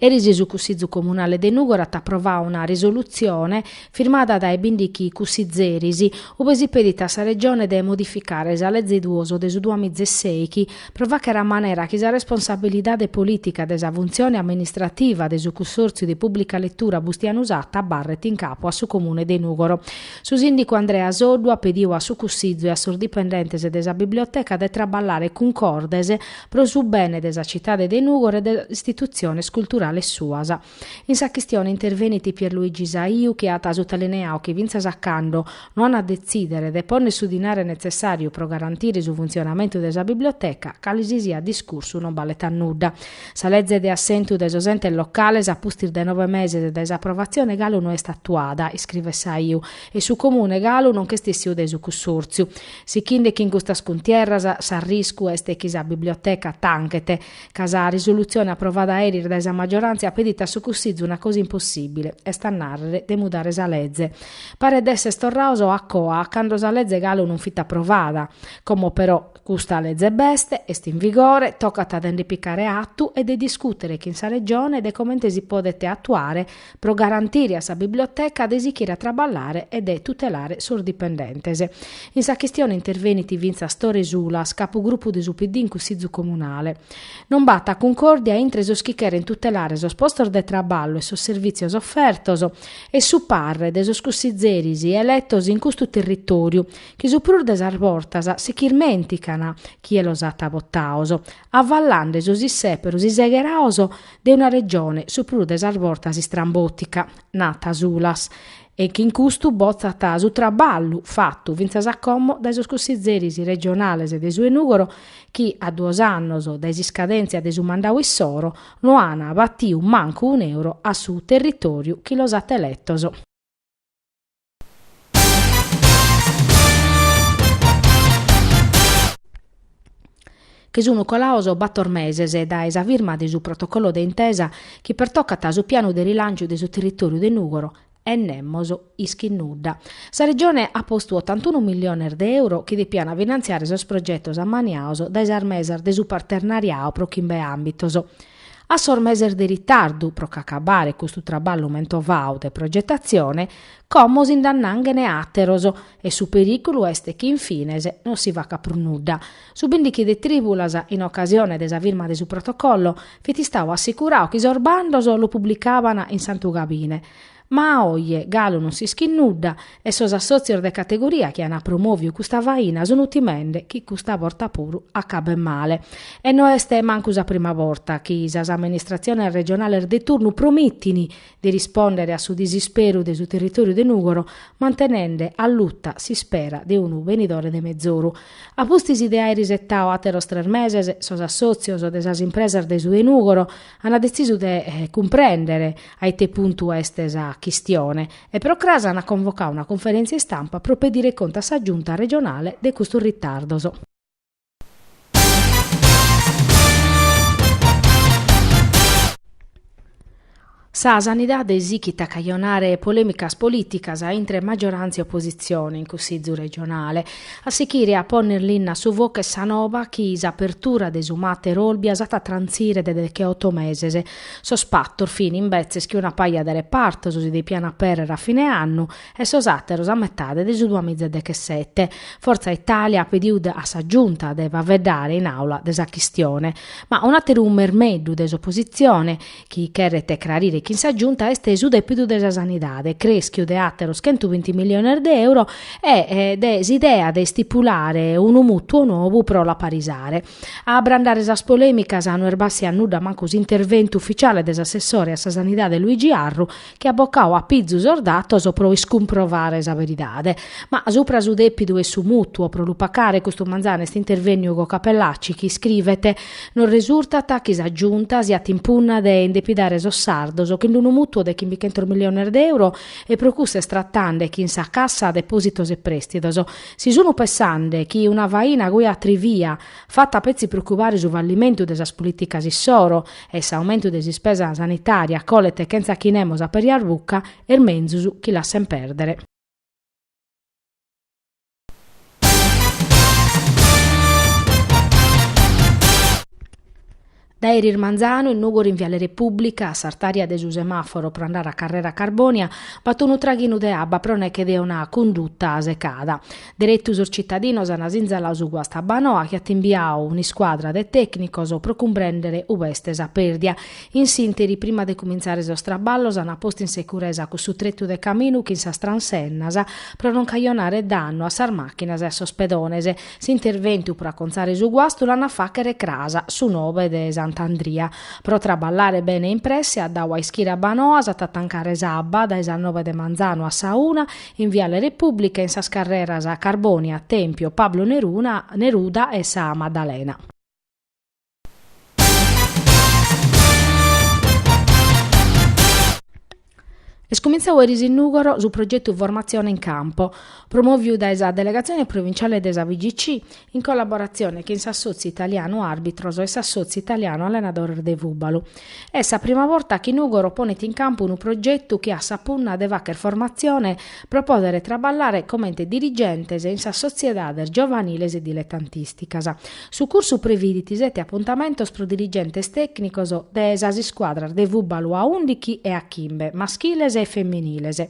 Eris su Cussizu Comunale de Nùgoro at aprovau una risolutzione, firmada dae bìndichi cussizeris, ube si pedit a sa Regione de modificare sa Leze duos de su duamiza e sèichi, pro fàchere a manera chi sa responsabilidade polìtica de sa funtzione amministrativa de su Cussòrtziu de Pùblica Letura Bustianu Satta abarret in capu a su Comune de Nùgoro. Su sìndicu Andrea Soddu at pediu a su Cussizu e a sos dipendentes de sa Biblioteca de traballare cuncordes pro su bene de sa citade de Nùgoro e de sas istitutziones culturales suas. In sa chistione intervenit Pierluigi Saiu chi at sutalineau chi fintzas a cando no an a detzìdere de pònnere su dinare netzessàriu pro garantire su funtzionamentu de sa biblioteca, cale si siat discursu non balet a nudda. Sa leze de assentu de sos entes locales a pustis de nove meses dae s'aprovatzione galu no est atuada, iscrivet Saiu, e su Comune galu non ch'est essiu de su cussòrtziu. Sichinde chin custas cuntierras s'arriscu est chi sa biblioteca tanchet, ca sa risolutzione aprovada eris dae sa maggioràntzia pedit a su Cussizu una cosa impossìbile, est a nàrrere, de mudare sa leze. Paret de esser torraos a coa a cando sa leze galu non fit aprovada. Como però custa leze b'est, est in vigore, tocat de nde picare atu e de discùtere chin sa Regione de comente si podet atuare pro garantire a sa biblioteca de sichire a traballare e de tutelare sos dipendentes. In sa chistione intervenit fintzas Tore Sulas, capugrupu de su PD in Cussizu Comunale. Non b'at cuncòrdia intre sos chi cheren tutelare sos postos de traballu e sos servìtzios ofertos e su parre de sos cussizeris eletos in custu territòriu, chi su prus de sas bortas si ch'irmèntican chie los at votaos, avallande sos issèperos isegheraos de una regione su prus de sas bortas istrambòtica, nat Sulas, e chi in custu botzat su traballu fatu fintzas a como dae sos cussizeris regionales de su 'e Nùgoro chi, a duos annos dae s'iscadèntzia de su mandau issoro, no ant batiu mancu un'euro a su territòriu chi los at eletos. chi sunu colaos bator meses dae sa firma de su protocollo de intesa chi pertocat su pianu de rilanciu de su territòriu de Nùgoro e nemos ischit nudda. Sa Regione at postu otantunu milliones de euro chi depiant finantziare sos progetos ammaniaos dae sas mesas de su partenariau pro chimbe àmbitos. A sos meses de ritardu pro ch'acabare custu traballu mentovau de progetatzione, como si nd'annànghene àteros, e su perìculu est chi in fines non si facat prus nudda. Su bìndichi de Trìbulas, in ocasione de sa firma de su protocollo, fit istau assicurau chi sos bandos los publicaban in Santu Gabine, Ma a oje galu non s'ischit nudda e sos assòtzios de categoria chi ant promoviu custa faina sunt timende chi custa borta puru acabet male. E no est mancu sa prima borta chi sas amministratziones regionales de turnu promintint de rispòndere a su disisperu de su territòriu de Nùgoro mantenende alluta s'ispera de unu benidore de mezoru. A pustis de àere isetadu àteros tres meses sos assòtzios de sas impresas de su 'e Nùgoro Ana detzisu de cumprèndere a ite puntu est sa chistione e pro cras ana convocadu una conferèntzia istampa pro pedire contu a sa Giunta regionale de custos ritardos. Sa sanidade sichit a cajonare polèmicas polìticas intre maggiorantzia e opositzione in Cussizu regionale. A sichire a ponner linna a su focu est sa noba chi s'apertura de su Mater Olbia s'at a trantzire de decheoto meses. Sos patos fin, imbetzes, chi una paja de repartos si depian aperrer a fine annu e sos àteros a metade de su duas miza e dechessete. Fortza Italia at pedidu a sa Giunta de faveddare in Àula de sa chistione. Ma un'àteru mermeddu de s'opositzione chi cheret crarire chin sa Giunta est su dèpidu de sa sanidade, creschiu de àteros chentu binti miliones de euro e de s'idea de istipulare unu mùtuo nou pro l'aparisare. A abrandare sas polèmicas no est bàssiu a nudda mancu s'interventu ufitziale de s'assessore a sa sanidade Luigi Arru, chi at bocau a pizu sos datos pro iscumprovare sa beridade. Ma supra su depidu e su mutuo pro lu pacare custu manzanu est intervenniu Ugo Cappellacci chi iscrivet, Nos resurtat chi sa Giunta siat in punna de indepidare sos sardos chin d'unu mutuo de chimbichentos milliones de euro e pro cussu est tratande chin sa Cassa depositos e prestidos. Si sun pensande chi una faina cubia-cubia Fata petzi pro cubare su fallimentu de sas polìticas issoro e s'aumentu de s'ispesa sanitària colet chentza chi nemos aperjat buca, est menzus chi lassent pèrdere. Dae eris manzanu in Nùgoro in Viale Repùblica, a s'artària de su semàforo pro andare a Carrera Carbònia, b'at unu traghinu de abba pro neche de una cunduta secada. Deretu sos tzitadinos ant sinzaladu su guastu a Abbanoa chi at imbiadu un'iscuadra de tècnicos pro cumprèndere ue est sa pèrdia. In s'ìnteri, prima de cumintzare sos traballos, ant postu in securesa cussu tretu de caminu chin sas transennas pro non cajonare dannu a sas màchinas e a sos pedones. S'interventu pro acontzare su guastu l'an a fàchere cras su nobe de Sant'Andria. Pro traballare bene e in presse at dadu a ischire Abbanoa s'at a tancare s'abba dae sas nobe de manzanu a sa una in Viale Repùblica in sas carreras Carbònia, Tèmpio, Pablo Neruna, Neruda e sa Maddalena. Est cumintzau erisero in Nùgoro su progetu Formatzione in Campo, promòviu dae sa Delegatzione Provintziale de sa FIGC in collaboratzione chin s'Assòtziu Italianu Àrbitros e s'Assòtziu Italianu Allenadores de Fùbalu. Est sa prima borta chi Nùgoro ponet in campu unu progetu chi at sa punna de fàghere formatzione pro pòdere traballare comente dirigentes in sas sotziedades giovaniles e diletantìsticas. Su cursu previdit sete apuntamentos pro dirigentes tècnicos de sas iscuadras de fùbalu a ùndighi e a chimbe, maschiles e feminiles.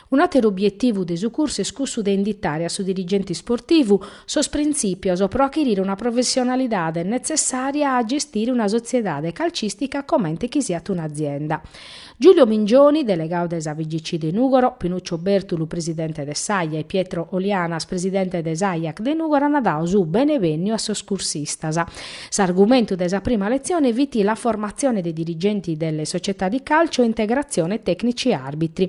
Un'àteru obietivu de su cursu est cussu de inditare a su dirigente sportivu sos printzìpios pro achirire una professionalidade netzessària a gestire una sotziedade calcìstica comente chi siat un'azienda. Giulio Mingioni, delegadu de sa FIGC de Nùgoro, Pinuccio Bertulu, presidente de s'AIA e Pietro Olianas, presidente de s'AIAC de Nùgoro ant dadu su benevènniu a sos cursistas. S'argumentu de sa prima letzione fit la formazione dei dirigenti delle società di calcio e integrazione tecnici arbitri.